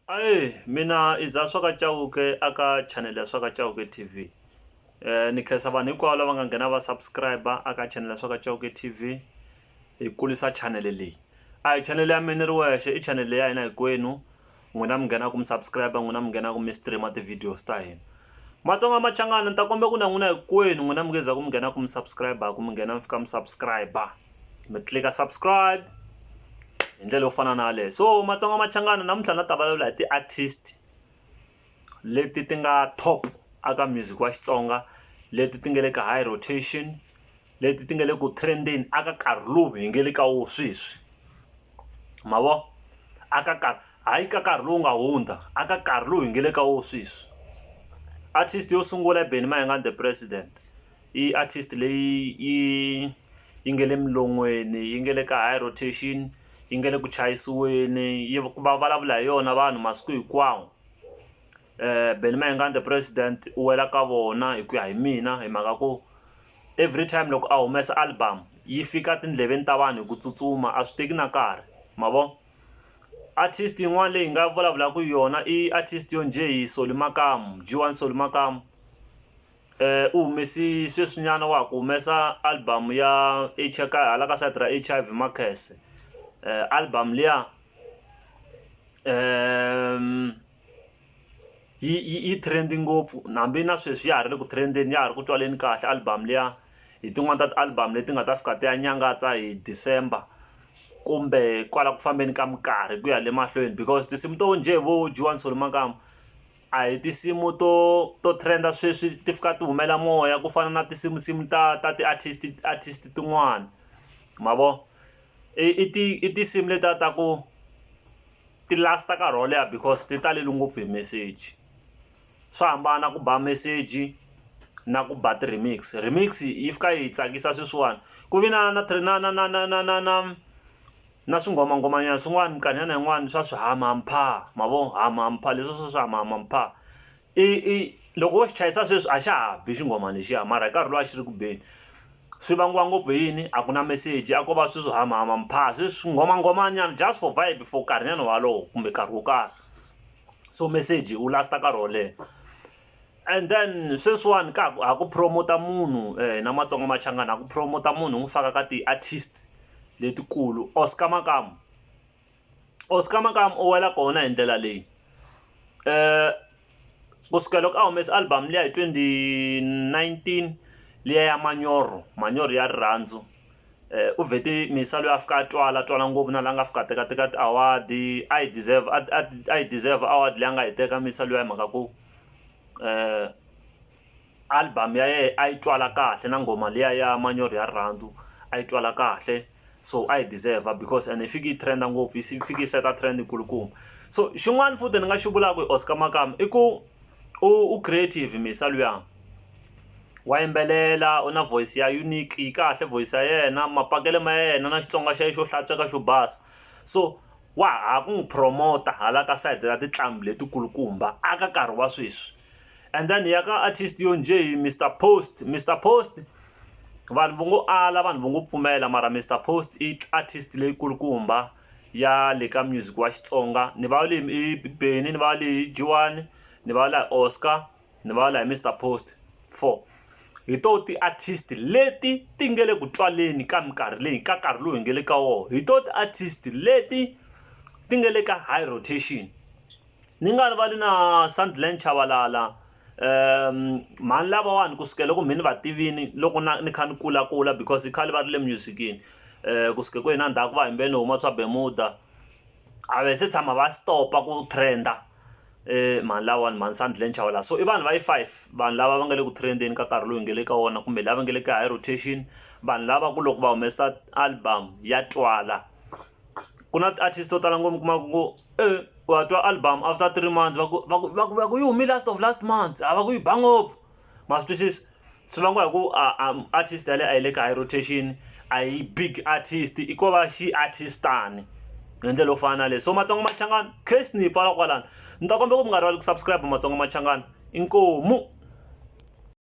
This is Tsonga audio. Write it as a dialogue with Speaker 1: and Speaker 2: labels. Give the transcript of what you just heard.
Speaker 1: Ahee mina i dza swa ka Chauke a ka channel ya swa ka Chauke T_V ni khensa vanhu hinkwavo lava nga nghena va subscribe a ka channel ya swa ka Chauke T_V hi kulisa channel leyi a hi channel ya mina ni ri wexe i channel ya hina hinkwenu n'wina mi nghenaku mi subscribe n'wina mi nghenaku mi stream ti-videos ta hina Matsonga Machangani ni ta kombela ku na n'wina hinkwenu n'wina mi nge za ku mi nghenaku mi subscribe-ku mi nghena mi fika mi subscribe. mi tlilika subscribe hi ndlela yo fana na yaleyo so matsonga machangana namuntlha na ta vulavula hi ti-artist leti ti nga top aka music wa xitsonga leti ti nga le ka high rotation leti ti nga le ku trendeni aka karhi lowu hi nge le ka wo sweswi ma vo aka karhi hayi ka karhi lowu nga hundza aka karhi lowu hi nge le ka wo sweswi artist yo sungula i benny mayengani the president I artist leyi yi yi nga le milon'weni yi nga le ka high rotation yi nga le ku chayisiweni yi va vulavula hi yona vanhu masiku hinkwawo Benny Mayengani the president u wela ka vona hi ku ya hi mina hi mhaka ku every time loko a humesa album yi fika etindleveni ta vanhu hi ku tsutsuma a swi teki na nkarhi ma vo artist yin'wana leyi hi nga vulavulaka hi yona i artist yo njhe hi Solly Makamu G one Solly Makamu. u humesi sweswinyana wa ha ku humesa album ya ka hala ka side ra H_I_V Makhese album liya yi yi yi trend-i ngopfu na hambi na sweswi ya ha ri le ku trend-eni ya ha ri ku tswaleni kahle album liya hi tin'wani ta ti-album leti nga ta fika ti ya nyangatsa hi December kumbe kwala ku fambeni ka minkarhi ku ya le mahlweni because tinsimu to njhe vo Juwani Solomakamba A hi tinsimu to to trend-a sweswi ti fika ti humela moya ku fana na tinsimu nsimu ta ta ti-artist artist tin'wana ma vo i i ti i tinsimu letiya ta ku ti last-a nkarhi wo leha because ti talele ngopfu hi meseji swa hambana ku ba meseji na ku ba ti-remix, remix yi fika yi tsakisa sweswiwani ku ve na na na na na na na na na. na swingomangomanyana swin'wana minkarhinyana yin'wana swa swi hamampha ma vo hamampha leswi swa swi hamampha i i loko wo xi chayisa sweswi a xa ha bi xinghoma lexiya mara hi nkarhi lowu a xi ri ku beni swi vangiwa ngopfu hi yini a ku na meseji a ko va sweswi hamampha sweswi swingomangomanyana just for vibe for nkarhinyana walowo kumbe nkarhi wo karhi so meseji wu last-a nkarhi wo leha And then sweswiwani ka ha ku promote-a munhu hina matsonga machangani ha ku promote-a munhu hi n'wi faka ka ti-artist letikulu Oscar Makamu Oscar Makamu u wela kona hi ndlela leyi kusukela loko a humesa album liya hi twenty nineteen liya ya manyoro manyoro ya rirhandzu. u vhete minsa loyi a fika a twala a twala ngopfu na la nga fika a teka teka ti award a yi deserve a yi deserve award leyi a nga yi teka minsa luya hi mhaka ku album ya yena a yi twala kahle na nghoma liya ya manyoro ya rirhandzu a yi twala kahle so a yi deserve because and yi fiki yi trend ngopfu yi fiki yi seta trend yi kulukumba so xin'wana futhi ni nga xi vulaka hi Oscar Makamu i ku u creative minsa luya. wa yimbelela u na voice ya unique yi kahle voice ya yena mapakele ma yena na Xitsonga xa yena xo hlantsweka xo basa so wa ha ku n'wi promoter hala ka side ra tinqambi leti kulukumba a ka nkarhi wa sweswi and then hi ya ka artist yo njhe Mister Post, Mister Post vanhu vo ngo ala vanhu vo ngo pfumela mara Mister Post i artist leyi kulukumba ya le ka music wa Xitsonga ni vale i Benny ni vale i G-one ni vale Oscar. ni va la hi Mister Post four hi to ti artist leti ti nge le ku twaleni ka minkarhi leyi ka nkarhi lowu hi nge le ka wona hi to ti artist leti ti nge le ka high rotation ni nga rivali na Sandland Chabalala mhani lavawani ku sukela loko mhani va tivini loko na ni kha ni kula kula because i khale va ri le music-ini ku suke ku hina ndhaku va himbe ni huma swa Bermuda a va se tshama va stop-a ku trend-a. e mhani lawani mhani sandlen chawala so i vanhu va yi five vanhu lava va nga le ku trendeni ka nkarhi lowu hi nga le ka wona kumbe lava nga le ka high rotation vanhu lava ku loko va humesa album ya twala ku na ti-artist to tala ngopfu kuma ku e wa twa album after three months va ku va ku va ku va ku yi hume last of last months a va ku yi ba ngopfu ma swi twisisa swi vangiwa hi ku artist yale a yi le ka high rotation a yi big artist i ko va xi artistani hi ndlela yo fana na leyi so matsongo machangani case ni yi pfala kwalano ni ta kombela ku mi nga rivali ku subscribe matsongo machangani inkomu